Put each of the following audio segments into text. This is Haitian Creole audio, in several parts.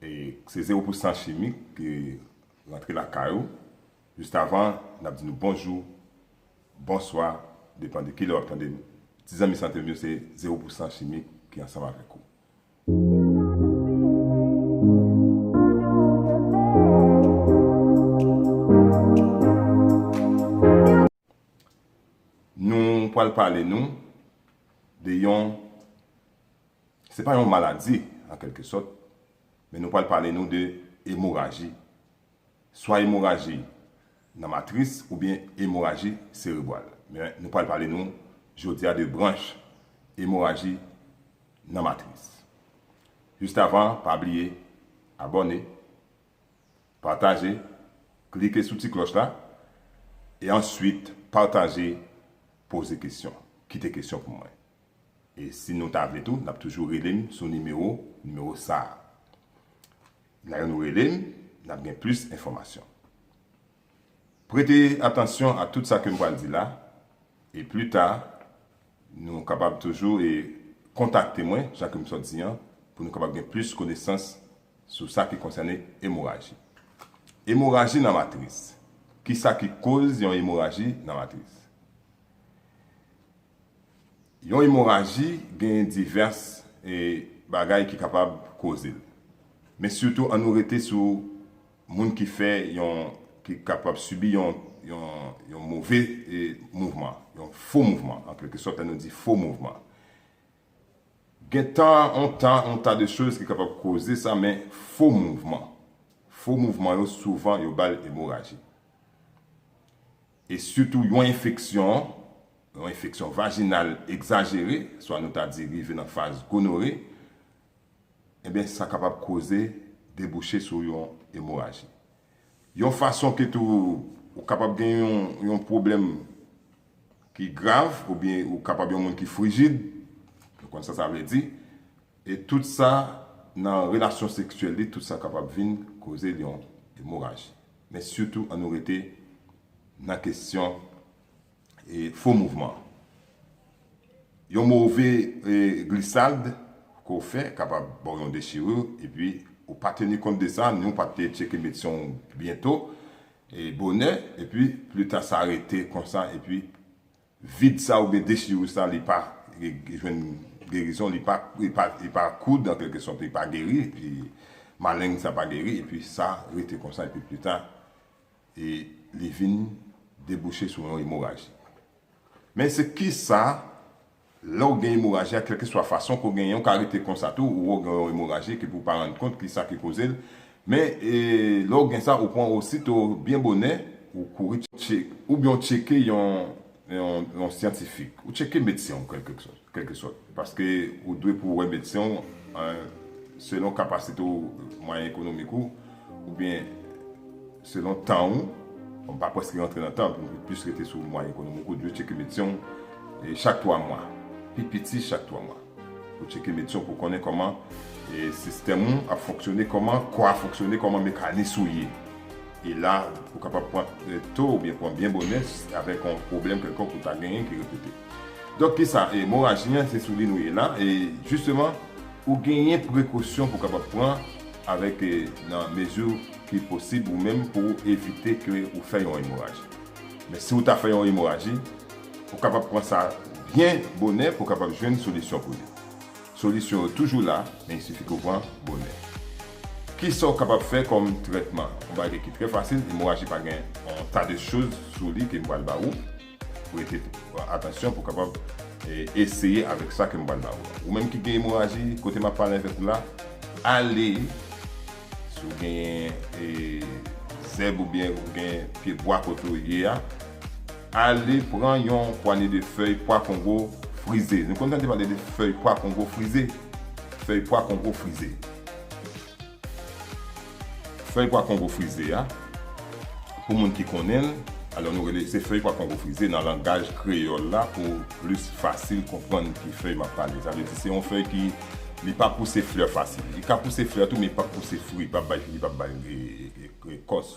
Se zero pou san chimik ke rantre lakay ou. Just avan, n ap di nou bonjou, bonswa, depan de ki lè w ap tande nou. Ti zanmi sante m yo, se zero pou san chimik ki ansanm avèk ou. Nou pral pale nou de yon, se pa yon maladi an kèlke sòt, men nou pral pale nou de emoraji, swa emoraji nan matris oubyen emoraji serebwal. Men nou pral pale nou jodi a de branch emoraji nan matris. Jistavan, pa bliye abòne, Pataje, klike sou ti klòch la, e answit pataje, poze kesyon, kite kesyon pou mwen. E si nou ta vle tou, nap toujou rele m sou nimewo, nimewo sa a. Lè nou rele m, nap gen plis enfòmasyon. Prete atansyon a tout sa ke m pral di la, e pli ta, nou kapab toujou e kontakte mwen, jan ke m sot di an, pou nou kapab gen plis konesans Sou sa ki konsène emoraji. Emoraji nan matris. Kisa ki koz yon emoraji nan matris? Yon emoraji gen divès bagay ki kapab koze l. Men sitou an nou rete sou moun ki fè yon, ki kapab sibi yon, yon move mouvman, yon fo mouvman, an kelke sòt lè nou di fo mouvman. Gen ta on ta on ta de choz ki kapab koze sa men fo mouvman. Fo mouvman yo souvan yo bal emoraji. E sitou yon enfeksyon, yon enfeksyon vajinal egzajere, swa nou ta di rive nan faz gonore, enben sa kapab koze debouche sou yon emoraji. Yon fason ke tou ou kapab gen yon pwoblèm ki grav oubyen ou kapab yon moun ki frijid, nou konn sa sa vle di, e tout sa nan relasyon seksyèl li, tout sa kapab vin koze l yon emoraji. Men sitou an nou rete nan kesyon Fo mouvman. Yon move glisad ke w fè kapab ba w yon dechirur epi ou pa teni kont de sa ni w pa te tcheke medsen w byento, bonè, epi plita sa rete konsa epi vid sa oubyen dechirur sa li pa jwenn gerizon, li pa koud an kèlke sòt, li pa geri, maleng sa pa geri epi sa rete konsa epi plita e li vin debouche sou yon emoraji. Men se kisa lè ou gen emoraji a kèlkeswa fason ke ou genyen ou ka rete konsa tou ou wè ou gen yon emoraji epi pou ou pa rann kont kisa ki koze l men lè ou gen sa ou pran osito byen bonè ou kouri tcheke oubyen ou tcheke yon yon syantifik ou tcheke medsen w kèlke sòt paske ou dwe pou wè medsen w selon kapasite w mwayen ekonomik ou oubyen selon tan w m pa prèske rantre nan tan m plis rete sou mwayen ekonomik ou dwe tcheke medsen w chak 3 mwa pi piti chak 3 mwa pou tcheke medsen w pou konnen kòman sistèm ou ap fonksyone kòman kò a fonksyone kòman mekanis ou ye. E la, ou kapab pran to oubyen pran byen bonè avèk yon pwoblèm kèlkonk ou ta genyen ki repete. Donk ki sa, emoraji an se sou li nou ye la e jisteman ou genyen prekosyon pou kapab pran avèk nan mezi ki posib ou menm pou ou evite ke ou fè yon emoraji. Men si ou ta fè yon emoraji, ou kapab pran sa byen bonè pou kapab jwenn solisyon pou li. Solisyon yo toujou la, men il sifi ke w pran bonè. Kisa w kapab fè kòm trètman? Yon bagay ki trè fasil, emoraji pa gen yon ta de choz sou li ke m pral ba ou. Prete atansyon pou w kapab eseye avèk sa ke m pral ba ou la. Ou menm ki gen emoraji, kote m ap pale avèk ou la, ale, si w gen zèb oubyen ou gen pye bwa kote w ye a, Ale pran yon pwanye de fèy pwa kongo frize. Nou konn tande pale de fèy pwa kongo frize? Fèy pwa kongo frize. Fèy pwa kongo frize a, pou moun ki konnen l, alò nou rele se fèy pwa kongo frize nan langaj kreyòl la pou plis fasil konprann ki fèy m ap pale. Sa vle di se yon fèy ki li pa pouse flè fasil. Li ka pouse flè tou men li pap pouse fri, li pap bay li pap bay kòs.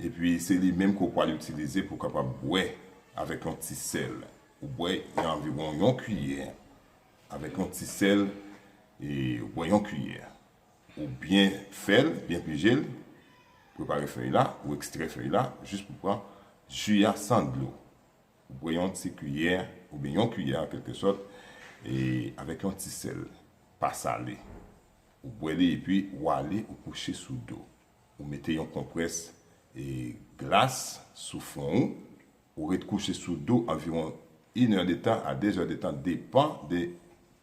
Epi se li menm ke w pwal itilize pou w kapab bwè avèk yon ti sèl. Ou bwè anviwon yon kiyè avèk yon ti sèl e ou bwè yon kiyè. Ou byen fè l, byen pije l, prepare fèy la, ou ekstrè fèy la jis pou w pran ji a san dlo. Ou bwè yon ti kiyè oubyen yon kiyè an kèlke sòt e avèk yon ti sèl, pa sale. Ou bwè li epi ou ale ou kouche sou do. Ou mete yon konprès glas sou fwon ou. Ou ret kouche sou do anviwon inè de tan a dezè de tan depan de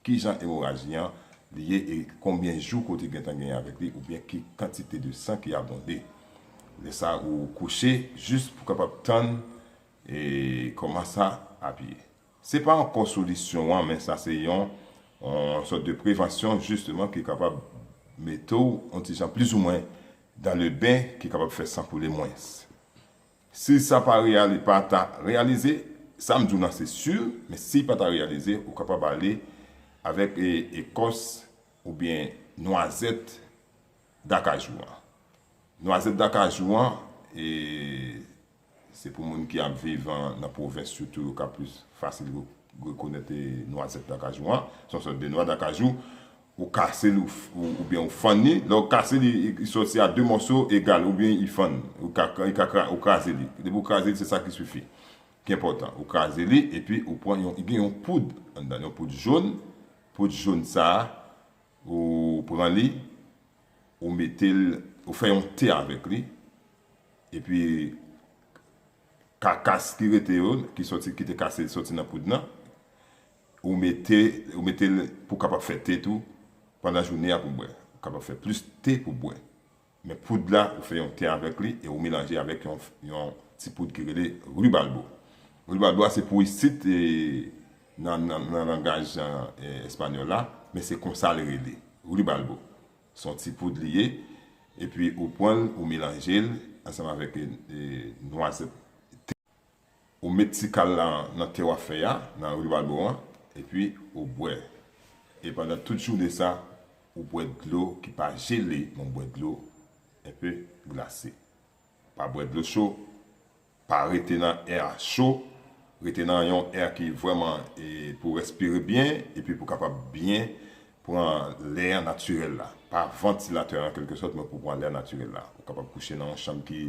kijan emoraji an li ye e konbyen jou ke w te gentan genyen avèk li oubyen ki kantite de san ki abonde. Lè sa ou kouche jis pou kapab tann kòman sa ap ye. Se pa ankò solisyon an men sa se yon sòt de prevansyon jisteman ki kapab mete w yon ti jan plizoumwen dan le ben ki kapab fè san koule mwens. Si sa pa reyali pa ta reyalize, sa m di w lan se si men si pa ta reyalize ou kapab ale avèk ekòs oubyen nwazèt dakajou an. Nwazèt dakajou an e Se pou moun ki ap viv nan pwovens sitou yo ka plis fasil rekonèt nwazèt dakajou an. Se yon sòt de nwa dakajou. Ou kase l oubyen ou fann li. Lè ou kase li, li sòti a de mòso egal oubyen li fann. Ou kraze li. Depi ou kraze li, se sa ki sifi, ki enpòtan. Ou kraze li epi ou pran yon, li gen yon poud anndan l, yon poud jon. Poud jon sa a, ou pran li, ou mete l, ou fè yon te avèk li. Epi kakas ki rete yo ki soti ki te kase soti nan poud nan ou mete ou metel pou kapab fè te tou pandan joune a pou bwè ou kapab fè plis te pou bwè men poud la ou fè yon te avèk li e ou melanje avèk yon yon ti poud ki rele ribalbo ribalbo a se pou isit e nan nan langaj espanyòl la men se konsa li rele ribalbo. Son ti poud li ye epi ou pwanl ou melanjel ansanm avèk nwazèt tou ou met ti kal la nan te wap fè a nan ribalbo an epi ou bwè e pandan tout jounen sa ou bwè dlo ki pa jele men ou bwè dlo enpe glase pa bwè dlo cho Pa rete nan air cho, rete nan yon air ki vreman pou w respire byen epi pou w kapab byen pran lè an natirèl la. Pa vantilatè an kelke sòt men pou w pran lè natirèl la. Ou kapab kouche nan yon chanm ki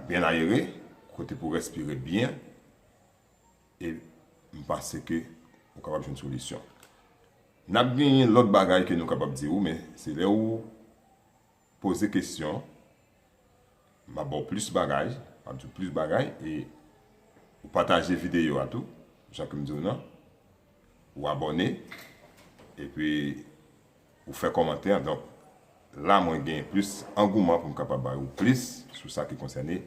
byen ayere, kote pou w respire byen e m panse ke ou kapab jwenn solisyon. N ap genyen lòt bagay ke nou kapab di ou men se lè ou. Poze kesyon, m ap ba w plis bagay, m ap di w plis bagay e ou pataje videyo a tou jan ke m di w nan, ou abòne epi ou fè kòmantè donk la mwen gen plis angouman pou m kapab ba ou plis sou sa ki konsène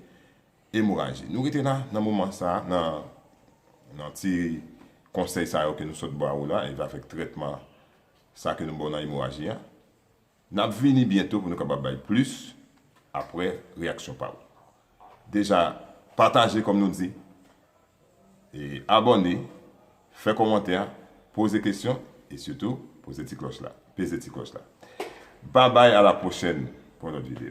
emoraji. Nou rete la nan moman sa a nan ti konsèy sa yo ke nou sot ba ou la e avèk trètman sa ke nou ba w nan emoraji a. N ap vini byento pou nou kapab bay plis aprè reyaksyon pa ou. Deja pataje kòm nou di, e abòne, fè kòmantè, poze kesyon e sitou poze ti klòch la, peze ti klòch la. Babay a la pwochèn pou yon lòt video.